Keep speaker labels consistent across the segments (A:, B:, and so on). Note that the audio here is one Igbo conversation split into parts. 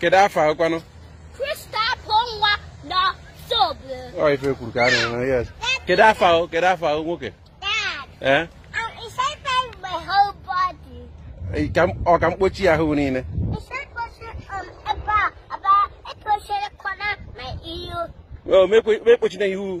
A: kedu afọ ahụkwanụ
B: ọ ife kwuru ka a
A: na-eme yes kedu afọ ahụ kedu afọ ahụ nwoke
B: ee ọ ka mkpochi
A: ya ahụ
B: niile o
A: mekpochi na ihu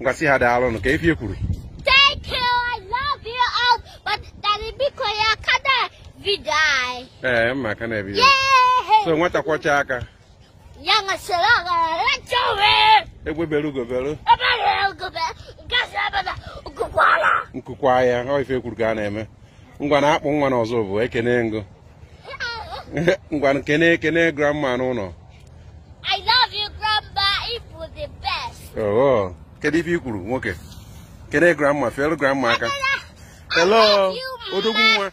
A: ngwa sị ha daalụ nụ ka ife i kwuru Thank
B: you, I love you all, but Daddy Biko ya kada vidai. ee mma
A: aka na-ebi ya. Yay! so
B: nwata kwọcha
A: aka
B: Yang asala gara chowe. egbe bere ugo
A: bere Abara gobe, gasa abara kukwala. nku kwaa ya ọ ife kwuru ka a na-eme ngwa na-akpọ nwa n'ọzọ bụ ekene ngụ ngwa kene kene grandma n'ụlọ
B: I love you grandma ị bụ the best oh kedu
A: ife i kwuru nwoke kene grandma feelu grandma aka hello
B: odogwu nwa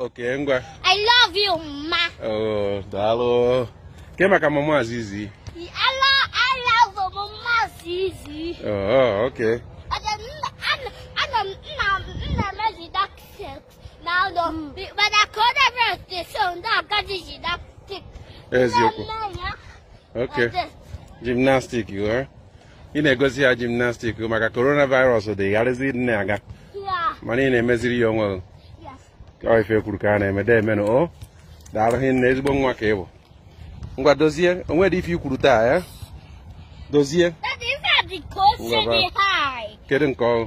A: okay ngwa I love you
B: ma oh
A: daalụ ke maka mama zizi I love
B: mama zizi oh
A: okay
B: n'ụlọ mana ka ọ dabara steso ndị agadi ji na tik
A: eziokwu okay gymnastic ghọọ ị na-egosi ya gymnastic maka coronavirus dị gharịzi na-aga mana ị
B: na-emeziri
A: ya onwe
B: ọ ife kwuru
A: ka a na-eme deeme nụ o daalụ hinne ezigbo nwa ka ị bụ ngwa dozie o nwedị ife i kwuru taa ya dozie
B: kedu nke ọrụ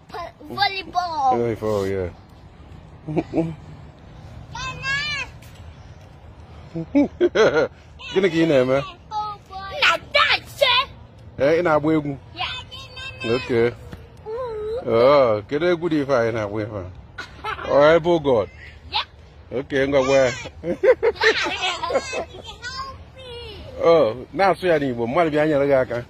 B: Volleyball. Volleyball,
A: yeah. Gịnị ka ị na-eme? Na
B: dance. Ee, ị na-agba
A: egwu? Okay. Oh, kedu egwu dị ife anyị na-agba ife a? Ọ about
B: God. Okay, ngwa gwa
A: ya. Oh, na-asụ ya n'Igbo, mmadụ bịa nyere gị aka.